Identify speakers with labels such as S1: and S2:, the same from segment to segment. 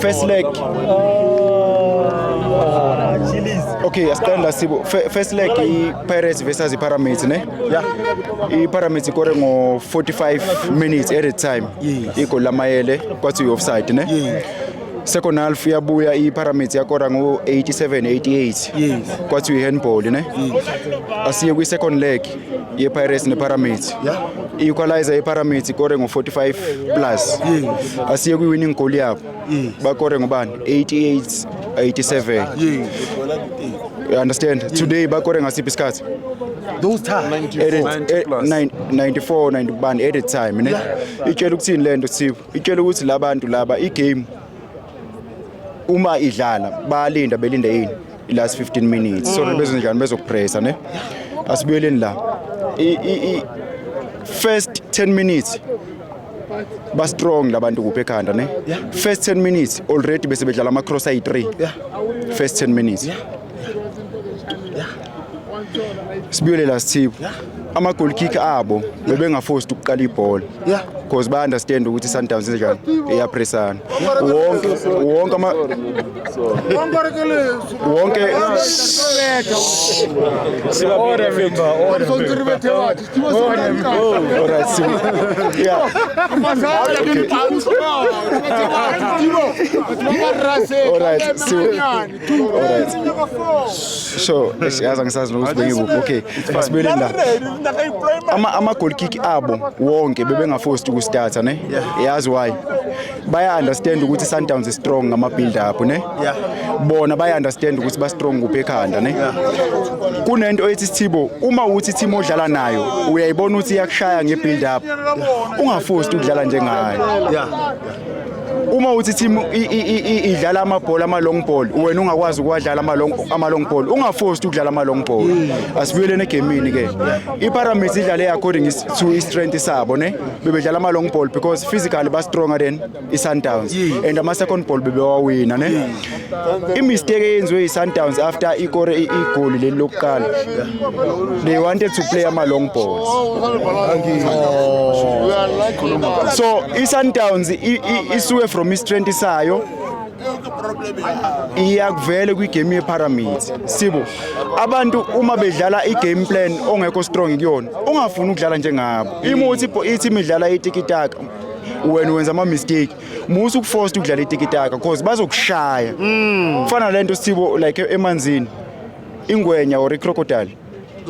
S1: First leg. Okay, asitanda sibo. Fe- First leg i-Pirates versus i-Pyramids, ne? Yeah. I-Pyramids ikore ngo 45 minutes at a time. Yes. Igoli lamayele kwathi uyi-offside, ne? Yes. Second half yabuya i-Pyramids yakora ngo 87 88. Yes. Kwathi uyi-handball, ne? Asiye kwi-second leg. yepirates nepyramids i-equalizer yepyramids ikore ngo-45 plus asiye kwi-winning goal yabo bakore ngobani 88 87 you understand today bakore ngasiphi isikhathi those
S2: time
S1: 94 90 bani at a time ne itshela ukuthini le nto sipho itshela ukuthi labantu laba i-game uma idlala bayalinda belinda yini last 15 minutes so bezenjani bezokupressa ne asibuyeleni la I- i- i- first 10 minutes ba strong labantu kuphe ekhanda ne first 10 minutes already bese bedlala ama cross ayi 3 first 10 minutes Sibuyele la Sithipho. Ama goal kick abo bebengaforced ukuqala ibhola. Yeah. Because ba understand ukuthi Sundowns njani iyapressana. Wonke wonke ama wonke Order member, order member. Order member. Alright, so yeah. Alright, so Alright. So, siyazi angisazi nokuthi bengikuphi. Okay. Asibuyele la. Ama ama goal kick abo wonke bebengaforced ukustarta ne? Yazi why? Baya understand ukuthi Sundowns is strong ngama build up ne? Bona baya understand ukuthi ba strong kuphi ekhanda ne? Kunento ethi Sithibo uma uthi team odlala nayo uyayibona ukuthi iyakushaya nge build up. Ungaforced ukudlala njengayo. Yeah. uma uthi team idlala amabhola ama long ball wena ungakwazi ukwadlala ama long ama long ball ungaforced ukudlala ama long ball asibuyelene egamini ke ipyramids idlale according to strength sabo ne bebedlala ama long ball because physically ba stronger than isundowns and ama second ball bebewawina ne imistake eyenziwe yi-sundowns after ikore igoli leli lokuqala they wanted to play ama-long balls so i-sundowns isuke from i-strength sayo iyakuvele kwigame yepyramids sibo abantu uma bedlala igame plan ongekho strong kuyona ungafuni ukudlala njengabo imuthi ithi imidlala itikitaka wena wenza ama-mistake musa ukufosta ukudlala itikitaka cause bazokushaya mm. kufana lento sithibo like emanzini ingwenya or icrocodile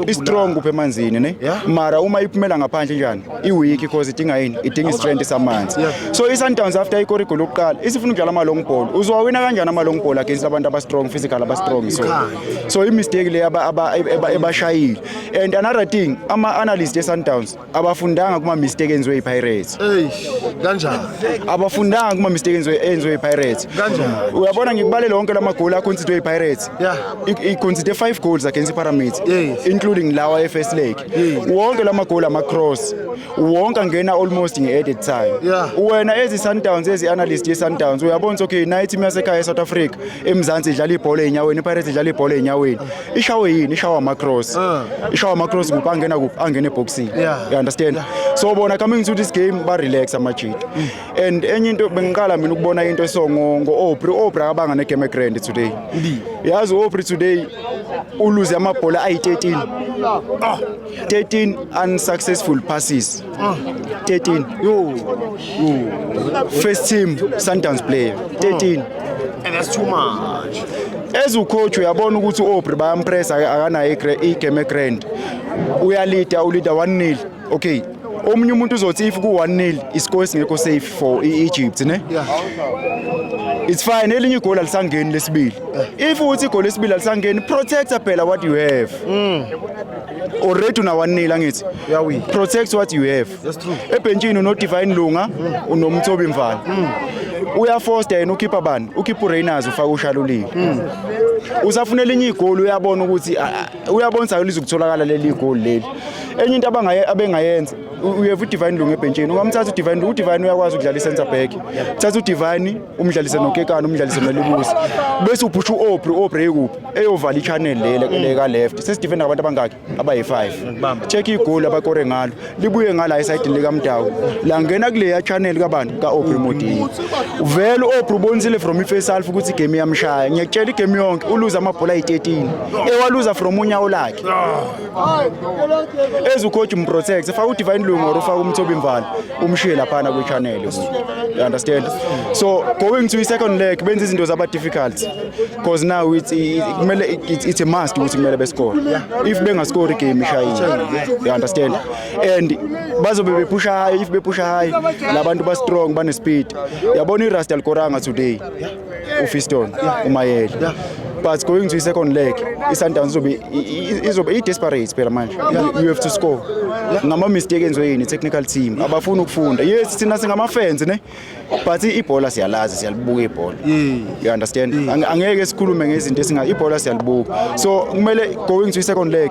S1: istrong kupha emanzini ne mara uma iphumela ngaphandle njani iweak because idinga yini idinga istrength samanzi so isundowns after ikora igoli lokuqala isifuna ukudlala ama-long ball uzowawina kanjani ama-long ball against abantu abastrong physical abastrong so so imistake le ebashayile and another thing ama-analyst esundowns abafundanga kuma mistake enziwe iPirates eish kanjani
S2: abafundanga
S1: kuma mistake enziwe enziwe iPirates kanjani uyabona
S2: ngikubalela wonke
S1: lamagoli akhonsidwe iPirates yeah ikhonside 5 goals against iPyramids yes. including lawa eFirst Leg yes. wonke lamagoli ama cross wonke angena almost nge added time yeah. wena ezi Sundowns ezi analyst ye Sundowns uyabona okay night imiyasekhaya eSouth Africa eMzansi idlala ibhola enyaweni iPirates idlala ibhola enyaweni ishawe yini ishawa amacross ah. ishawa amacross kuphi angena kuphi angena eboxini you understand so bona coming to this game ba relax amajita mm. and enye into bengiqala mina ukubona into esongo ngo-opri opri akabanga negame grand today yazi u-opri today uluze amabhola ayi-13 13 ah. unsuccessful passes 13 Yo. first team
S2: sundowns
S1: player 13 And
S2: that's
S1: too
S2: much.
S1: as ucoach uyabona ukuthi uaubrey bayampressa aka- akanayo igre- igame egrand uyalida ulida 1 nil okay omunye umuntu uzothi if ku-1 nil iscore singekho safe for i-egypt ne it's fine elinye igoli alisangeni lesibili if uthi igoli lesibili alisangeni protector phela what you have already unawanela ngithi protect what you have ebhentshini
S3: unodivine
S1: lunga unomthobi mfana mm. uyafosta yena ukhipha bani ukhipha urainers ufaka ushalulile mm. usafuna elinye igoli uyabona ukuthi uyabona sayo lizokutholakala leli igoli leli enye into abangaye abengayenza uyeva udivine lunga ebhentshini ungamthatha udivine udivine uyakwazi ukudlala i-center back thatha udivine umdlalise nokekana umdlalise nolibusi bese uphusha u-obri u-obri ekuphi eyovala i-channel leka left sesidefenda ngabantu abangaki abayi-five check igoli abakore ngalo libuye ngala esayidini likamdawu langena kuleya channel kabani ka-obri modini vele u-obri ubonisile from i-face half ukuthi igame iyamshaya ngiyakutshela igame yonke uluze amabhola ayi-13 ewaluza from unyawo lakhe ezukhoji mprotect efaka udivine lungu or ufaka umthobi mvala umshiye laphana kwi channel you understand so going to second leg benza izinto zaba difficult because now it's kumele it's, it's a must ukuthi kumele bescore if bengascore game ishayile you understand and bazobe bepusha high if bepusha high labantu ba strong bane speed yabona i Rastal Koranga today uFiston uMayele but going to i-second leg i-sundowns izobe izobe i-desperate phela manje you have to score ngama-mistake enziwe yini technical team abafuni ukufunda yes thina singamafans ne but ibhola siyalazi siyalibuka ibhola you understand angeke sikhulume ngezinto esinga ibhola siyalibuka so kumele going to i-second leg